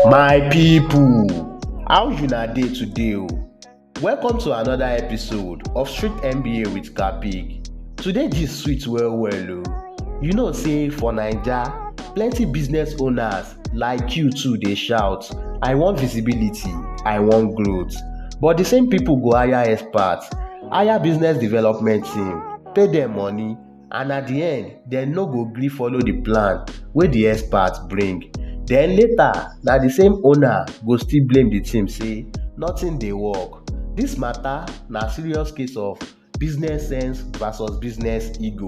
My people, how una dey today o? Welcome to another episode of Street MBA with Kapig. Today gist sweet well well o. You know say for Naija, plenty business owners like you too dey shout, I wan visibility, I wan growth. But the same people go hire experts, hire business development team, pay dem money and at di end dem no go gree follow di plan wey di experts bring den later na di same owner go still blame di team say nothing dey work dis mata na serious case of business sense versus business ego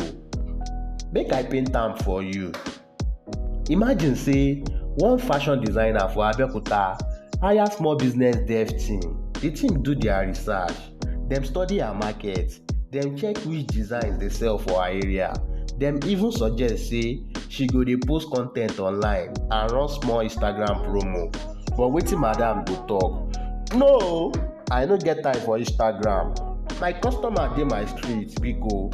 make i paint am for you Imagine say one fashion designer for Abeokuta hire small business dev team. The team do their research, dem study her market, dem check which designs dey sell for her area, dem even suggest say she go dey post con ten t online and run small Instagram promo. But wetin madam go talk? No o! I no get time for Instagram. My customer dey my street, biko.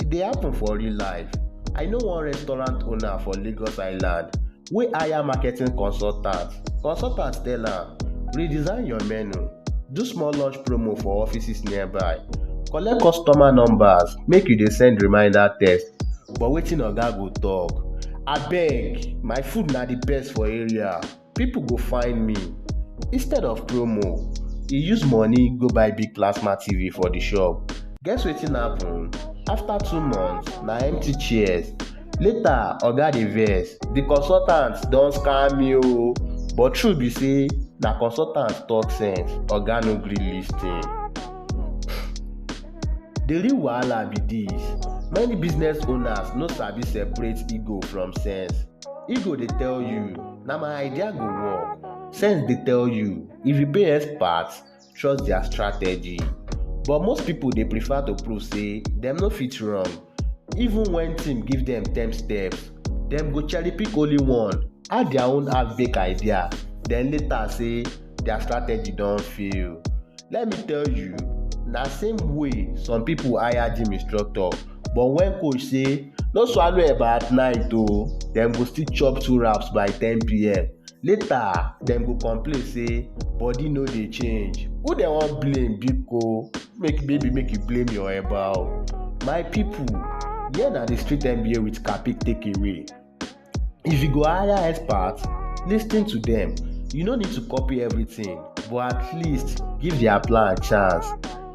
E dey happen for real life. I know one restaurant owner for Lagos Island wey hire marketing consultant. Consultant tell am, redesign your menu, do small lunch promo for offices nearby, collect customer numbers, make you dey send reminder text. But wetin oga go talk? Abeg, my food na the best for area. people go find me instead of promo he use money go buy big plasma tv for the shop guess wetin happen after two months na empty chairs later oga dey vex the consultant don scam me o but true be say na consultant talk sense oga no gree lis ten the real wahala be this many business owners no sabi separate ego from sense Ego dey tell you, na my idea go work. Sense dey tell you, if you pay expert, trust their strategy. But most people dey prefer to prove say dem no fit wrong. Even when team give dem ten steps, dem go cherry pick only one, add their own half-baked idea, then later say their strategy don fail. let me tell you na same way some people hire gym instructor but when coach say no swallow eba at night o oh, dem go still chop two wraps by 10pm later dem go complain say body no dey change who dem wan blame biko make baby make you blame your eba o oh. my people here na the street nba with capic take away. If you go hire experts, lis ten to dem. You no need to copy everything, but at least give their plan chance.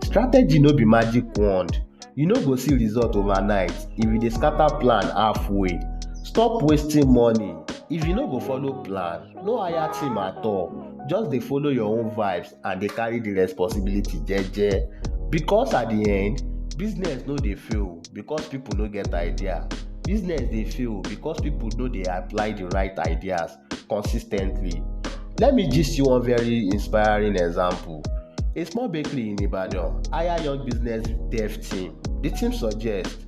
Strategy no be magic wand. You no go see result overnight if you dey scatter plan halfway. Stop wasting money. If you no go follow plan, no hire team at all. Just dey follow your own vibes and dey carry the responsibility jeje because at the end business no dey fail because people no get idea business dey fail because people no dey apply the right ideas consistently let me gist you one very inspiring example a small bakery in ibadan hire young business dev team the team suggest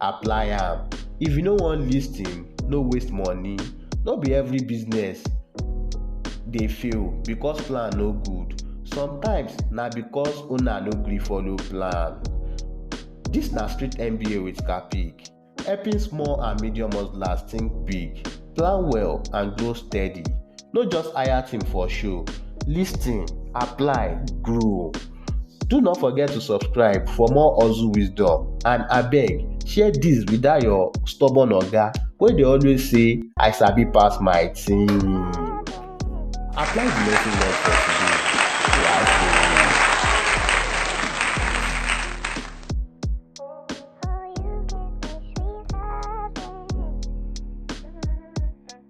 apply am. If you no wan lis ten, no waste money. No be every business dey fail because plan no good. Sometimes na because owner no gree follow plan. Dis na street MBA with Capik, helping small and medium hustlers think big, plan well and grow steady. No just hire team for show, listen, apply, grow. Do not forget to subscribe for more hustle wisdom and abeg share this with that your stubborn oga wey dey always say I sabi pass my team. Apply the lesson learned for today.